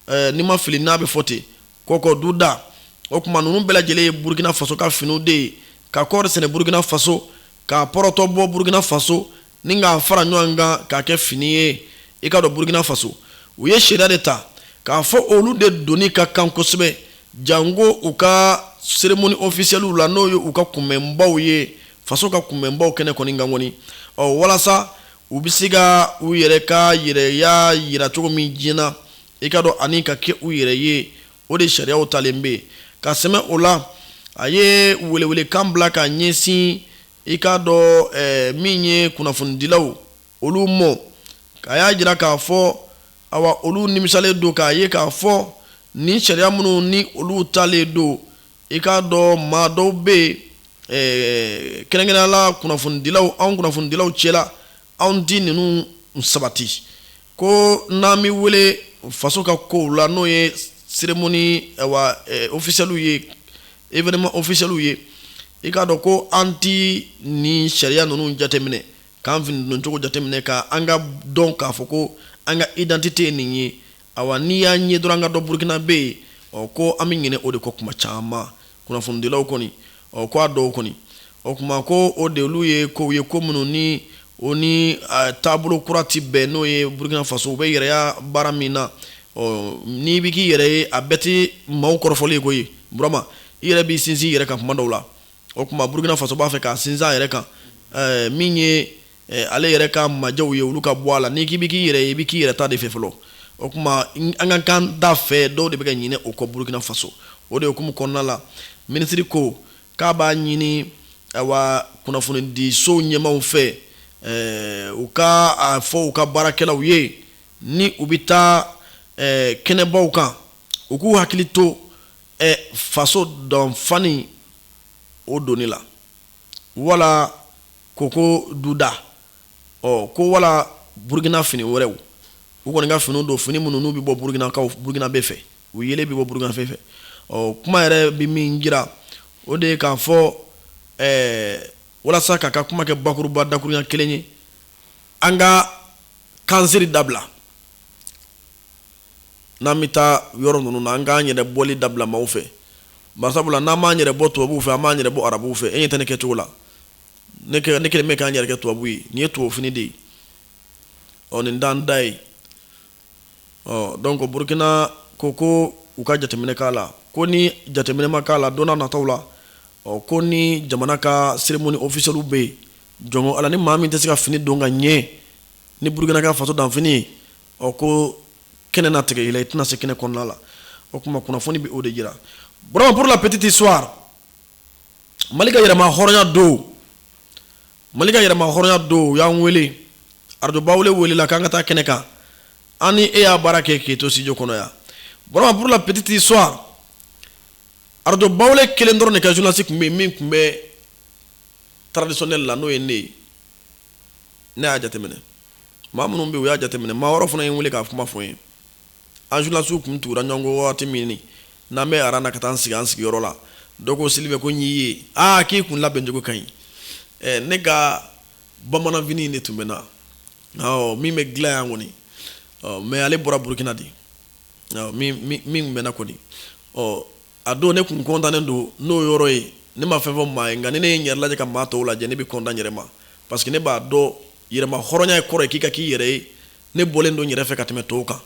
eh, ni ma fili n'a bɛ fɔ ten kɔkɔ duda o kuma ninnu bɛɛ lajɛlen ye burukina faso ka finiw de ye ka kɔɔri sɛnɛ burukina faso k'a pɔrɔtɔ bɔ burukina faso ni k'a fara ɲɔgɔn kan k'a kɛ fini ye i k'a dɔn burukina faso u ye sariya de ta k'a fɔ olu de donni ka kan kosɛbɛ janko u ka seremoni ofisiyɛliw la n'o ye u ka kunbɛnbaw ye faso ka kunbɛnbaw kɛnɛ kɔni kan kɔni ɔ walasa u bɛ se ka u yɛrɛ ka yɛrɛya jira cogo min diɲɛ na i k'a dɔn ani ka kɛ u yɛrɛ ye o de sariyaw talen bɛ ka sɛmɛ o la a ye welewelekan bila ka ɲɛsin i k'a dɔn eh, min ye kunnafonidilaw olu ma k'a y'a jira k'a fɔ awa olu nimisalen don k'a ye k'a fɔ nin sariya minnu ni olu talen don i k'a dɔn maa dɔw bɛ yen eh, kɛrɛnkɛrɛnnenya la kunnafonidilaw anw kunnafonidilaw cɛla anw ti ninnu sabati ko n'an bɛ wele faso ka kow la n'o ye seremoni awa eh, ofisiyɛliw ye evenema ofisiyɛliw ye i k'a dɔn ko an ti nin sariya ninnu jateminɛ k'an fini doncogo jateminɛ ka an k'a dɔn k'a fɔ ko an ka idantite ye nin ye awa n'i y'a ye dɔrɔn an ka dɔn burukinabɛ ye ɔ ko an bɛ ɲinɛ o de kɔ kuma caman kunnafonidilaw kɔni ɔ ko a dɔw kɔni o kuma ko o de olu ye kow ye ko minnu ni o ni taabolo kura ti bɛn n'o ye burukina faso u bɛ yɛrɛya baara min na ɔ n'i bɛ k'i yɛrɛ ye a bɛɛ ti maaw kɔrɔfɔli ye koyi burama i yɛrɛ b'i sinsin i yɛrɛ kan kuma dɔw la o kuma burukina faso b'a fɛ k'a sinsin a yɛrɛ kan ɛɛ min ye ɛɛ ale yɛrɛ ka majɛw ye olu ka bɔ a la n'i k'i bɛ k'i yɛrɛ ye i bɛ k'i yɛrɛ ta de fɛ fɔlɔ o kuma an ka kan da fɛ dɔw de bɛ ka ɲinɛ o kɔ burukina faso o de hukumu kɔnɔna la minisiri ko k'a b'a ɲini awa kunnafonidisow ɲɛmaaw fɛ ɛɛ u ka a fɔ u ka baarakɛlaw ye ni u bɛ taa ɛɛ kɛnɛbaw kan u k'u hakili to ɛ faso danfani o donni la wala koko duda ɔ ko wala burukina fini wɛrɛw u kɔni ka fini don fini minnu n'u bɛ bɔ burukinakaw burukinabɛ fɛ u yelen bɛ bɔ burukinabɛ fɛ ɔ kuma yɛrɛ bɛ min jira o de ye k'a fɔ walasa k'a ka kuma kɛ bakuruba dakuruɲɛ kelen ye an ka kansiri dabila n'an bɛ taa yɔrɔ ninnu na an k'an yɛrɛ bɔli dabila maaw fɛ masabula n'an m'an yɛrɛ bɔ tubabuw fɛ an b'an yɛrɛ bɔ arabuw fɛ e ɲɛ tɛ ne kɛcogo la ne kɛlen bɛ ka n yɛrɛ kɛ tubabu ye nin ye tubabu fini de ye ɔ nin t'an ta ye ɔ donc burukina ko ko u ka jateminɛ k'a la ko ni jateminɛ ma k'a la don nataw la ɔ ko ni jamana ka cérémonie officielle bɛ yen jɔn ala ni maa min tɛ se ka fini don ka ɲɛ ni burukina ka faso danfini ye ɔ ko kɛnɛ na tigɛ i la i tɛna se kɛnɛ kɔnɔna la o tuma kunnafoni bɛ o de jira burama pour la petite histoire mali ka yɛrɛma hɔrɔnya don mali ka yɛrɛma hɔrɔnya don u y'an wele arajo bawule welela k'an ka taa kɛnɛ kan an ni e y'a baara kɛ k'e to studio kɔnɔ yan burama pour la petite histoire arajo bawule kelen dɔrɔn de ka journaliste tun bɛ yen min tun bɛ traditionnel la n'o ye ne ye ne y'a jateminɛ maa minnu bɛ u y'a jateminɛ maa wɛrɛ fana ye n wele k'a kuma fɔ n ye an journalistew tun tugura ɲɔgɔn kɔ waati min n'an bɛ aran na ka taa an sigi an sigiyɔrɔ la dɔ ko sylvain ko n y'i ye aa k'i kun labɛncogo ka ɲi ne ka bamananfini de tun bɛ n na min bɛ dilan yan kɔni mais ale bɔra burukina de min bɛ n na kɔni ɔ a don ne tun kɔntannen don n'o yɔrɔ ye ne ma fɛn fɔ maa ye nka ni ne ye n yɛrɛ lajɛ ka maa tɔw lajɛ ne bɛ kɔntan n yɛrɛ ma parce que ne b'a dɔn yɛrɛma hɔrɔnya ye kɔrɔ ye k'i ka k'i yɛrɛ ye ne bɔlen don n yɛrɛ fɛ ka tɛmɛ tɔw kan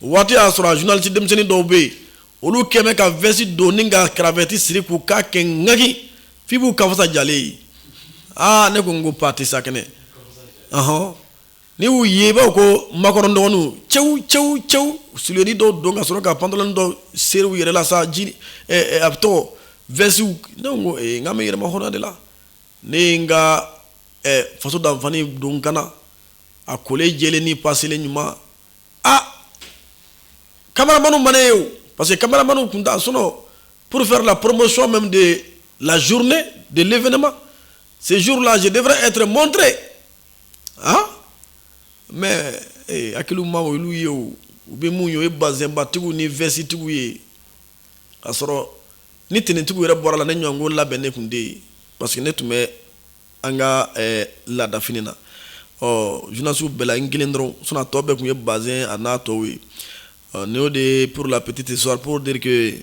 waati y'a sɔrɔ journaliste denmisɛnnin dɔw bɛ yen olu kɛlen bɛ ka vɛsi don ni ka cravate siri k'u kan kɛ ŋaki f'i b'u kanfasa jalen ye aa ne ko n ko pati sakɛnɛ N'i y'u ye i b'a fɔ ko maakɔrɔ dɔgɔninw, cɛw cɛw cɛw suliyenin dɔw don ka sɔrɔ ka pantalon dɔw seri u yɛrɛ la sa jean ɛ ɛ a bɛ tɔgɔ veste ne ko n ko ee n k'an bɛ yɛrɛmahɔrɔnya de la, ne ye n ka ɛ faso danfani don n kan na, a kolen jɛlen ni paselen ɲuman, aa cameraman ma ne ye o parce que cameraman tun t'a sinon pour faire la promotion même de la journée de l'événement, ce jour là je devrais être montré aa mais eh, hakiliw ma olu ye o u bɛ mun ye o ye bazɛnbatigiw ni vɛsitigiw ye k'a sɔrɔ ni tenitigiw yɛrɛ bɔra la ne ɲɔgɔnko labɛnnen tun tɛ yen parce que ne tun bɛ an ka eh, laadafini na ɔ journalistew bɛɛ la n kelen dɔrɔn sinon a tɔ bɛɛ tun ye bazɛn a n'a tɔw ye ɔ nin y'o de ye pour la petite histoire pour dire que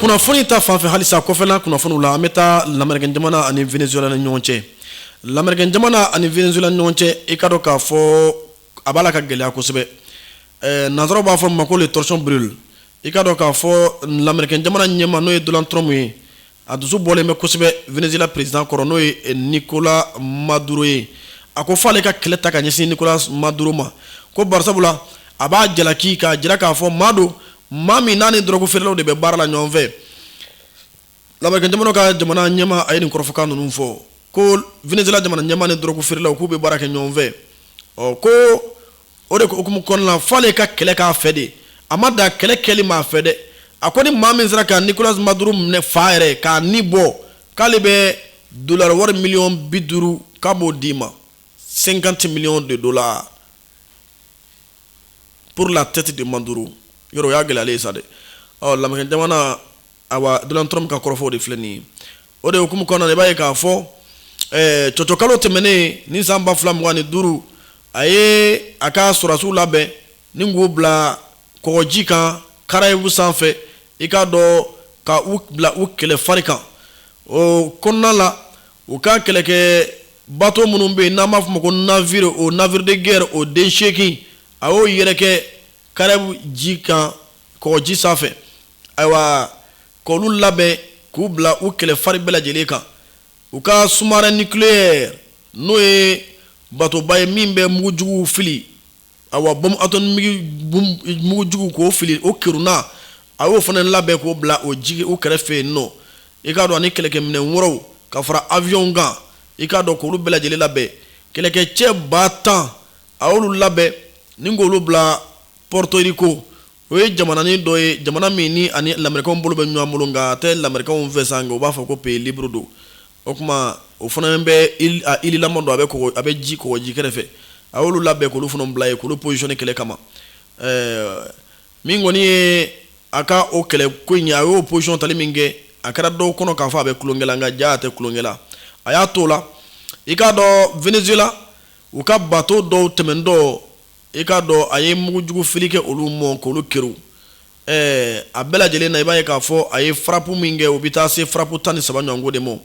kunnafoni ta fanfɛ halisa kunnafoni la an bɛ taa la jamana ani z ni ɲɔgɔn cɛ la jamana ani z ɲɔgɔn cɛ i ka k'a fɔ a b'a la ka gɛlɛya kosɛbɛ nanzsɔrɔ b'a fɔ ma ko toc i ka k kaa fɔ la jamana ɲɛma n'o ye dɔrɔn dɔrɔnmu ye A dusu bɔlen bɛ kosɛbɛ Venezuela president kɔrɔ n'o ye Nicolas Maduro ye, a ko f'ale ka kɛlɛ ta ka ɲɛsin Nicolas Maduro ma, ko barisabula a b'a jalaki k'a jira k'a fɔ maa don, maa min n'a ni dɔrɔgu feerelaw de bɛ baara la ɲɔgɔn fɛ. Lamerikɛnjamana ka jamana ɲɛmaa, a ye nin kɔrɔfɔkan ninnu fɔ, ko Venezuela jamana ɲɛmaa ni dɔrɔgu feerelaw k'u bɛ baara kɛ ɲɔgɔn fɛ, ɔ ko o de hukumu kɔnɔna f'ale ka kɛlɛ k'a fɛ de a ma dan kɛlɛ kɛli ma a fɛ dɛ a ko ni maa min sera ka Nicolas Maduro minɛ fa yɛrɛ k'a ni bɔ k'ale bɛ dolari wari miliyɔn bi duuru k'a b'o d'i ma cinquante millions de dollars pour la tête de Maduro yɔrɔ y'a gɛlɛyalen sa dɛ ɔ lamerikɛn jamana Ayiwa Donald Trump ka kɔrɔfɔw de filɛ nin ye. O de hukumu kɔnɔna na, i b'a ye k'a fɔ ɛɛ cɔcɔkalo tɛmɛnen ni san 2025, a ye a ka sɔrɔdasiw labɛn ni k'u bila kɔgɔji kan Karayibu sanfɛ, i k'a dɔn ka u bila u kɛlɛ fari kan. O kɔnɔna la, u ka kɛlɛkɛ bato minnu bɛ yen, n'an b'a fɔ o ma ko navire, o navire de guerre o den 8, a y'o yɛrɛkɛ Karayibu ji kan kɔgɔji sanfɛ. ayiwa ka olu labɛn k'u bila u kɛlɛ fari bɛɛ lajɛlen kan u ka sous-marin nucléaire n'o ye batoba ye min bɛ mugujugu fili awa bombe atomique mugujugu k'o fili o keruna a y'o fana labɛn k'o bila o jigi u kɛrɛfɛ yen nɔ i k'a dɔn ani kɛlɛkɛ minɛn wɛrɛw ka fara avion kan i k'a dɔn k'olu bɛɛ lajɛlen labɛn kɛlɛkɛ cɛ ba tan a y'olu labɛn ni k'olu bila Porto Rico o ye jamananin dɔ ye jamana min ni ani lamɛrikaw bolo bɛ ɲɔgɔn bolo nka a tɛ lamɛrikaw fɛ sa nka u b'a fɔ ko pays libre don o tuma o fana bɛ île lama don a bɛ a bɛ ji kɔgɔji kɛrɛfɛ fɛ a y'olu labɛn k'olu fana bila yen k'olu positionner kɛlɛ kama ɛɛ min kɔni ye a ka o kɛlɛ ko in a y'o position tali min kɛ a kɛra dɔw kɔnɔ k'a fɔ a bɛ tulonkɛ la nka ja a tɛ tulonkɛ la a y'a to o la i k'a dɔn Venezuela u ka bato dɔw tɛmɛntɔ i k'a dɔn a ye mugujugufili kɛ olu mɔ k'olu keru a bɛɛ lajɛlen na i b'a ye k'a fɔ a ye frappe min kɛ o bɛ taa se frappe tan ni saba ɲɔgɔnko de ma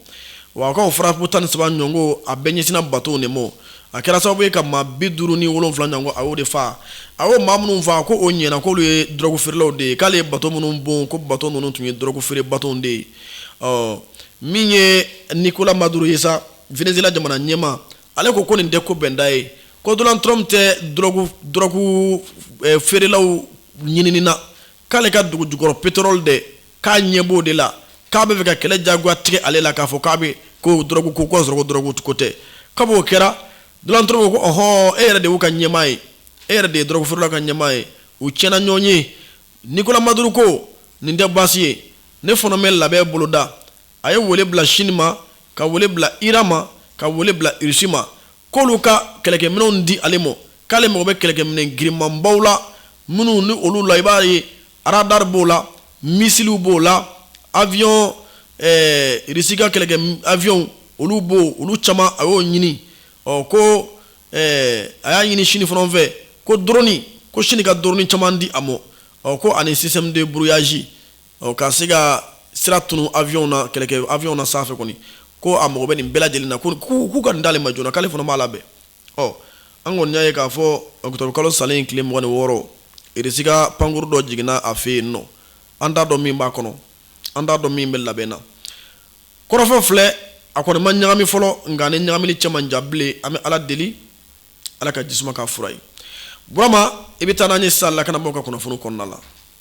wa a ka o frappe tan ni saba ɲɔgɔnko a bɛɛ ɲɛsinna bato de ma a kɛra sababu ye ka maa bi duuru ni wolonwula ɲɔgɔnko a y'o de faa a ye maa minnu faa ko o ɲɛna k'olu ye dɔrɔgu feerelaw de ye k'ale ye bato minnu bon ko bato ninnu tun ye dɔrɔgu feere bato de ye ɔ min ye Nicolas Maduro ye sa Venezuela jamana ɲɛma ale ko ko nin tɛ ko bɛnda ye ko Donald Trump tɛ drogue feerelaw ɲinini na k'ale ka dugu jukɔrɔ pétrole de k'a ɲɛ b'o de la k'a bɛ fɛ ka kɛlɛ jagoya tigɛ ale la k'a fɔ k'a bɛ ko drogue ko k'a sɔrɔ drogue ko tɛ kab'o kɛra Donald Trump ko ɔɔn e yɛrɛ de y'u ka ɲɛmaa ye e yɛrɛ de ye drogue feerelaw ka ɲɛmaa ye u tiɲɛna ɲɔgɔn ye Nicolas Maduro ko nin tɛ baasi ye ne fana bɛ labɛn boloda a ye wele bila Chine ma ka wele bila Iran ma ka wele bila Russie ma k'olu ka kɛlɛkɛminɛnw di ale ma k'ale mago bɛ kɛlɛkɛminɛn girinmanbaw la minnu ni olu la i b'a ye radar b'o la missilew b'o la avion Russie ka kɛlɛkɛ avion olu b'o olu caman a y'o ɲini ɔ ko a y'a ɲini Chine fana fɛ ko drone ko Chine ka drone caman di a ma ɔ ko ani système de brouillage ɔ ka se ka sira tunun avion na kɛlɛkɛ avion na sanfɛ kɔni ko a mago bɛ nin bɛɛ lajɛlen na ko k'u ka nin d'ale ma joona k'ale fana b'a labɛn ɔ an kɔni y'a ye k'a fɔ octobre kalo salen in tile mugan ni wɔɔrɔ Russie ka pankurun dɔ jiginna a fɛ yen nɔ an t'a dɔn min b'a kɔnɔ an t'a dɔn min bɛ labɛn na kɔrɔfɔ filɛ a kɔni ma ɲagami fɔlɔ nk'a ni ɲagamini cɛ man jan bilen an bɛ ala deli ala ka ji suma k'a fura ye burama i bɛ taa n'an ye sisan lakanabaaw ka kunnafoni kɔnɔna la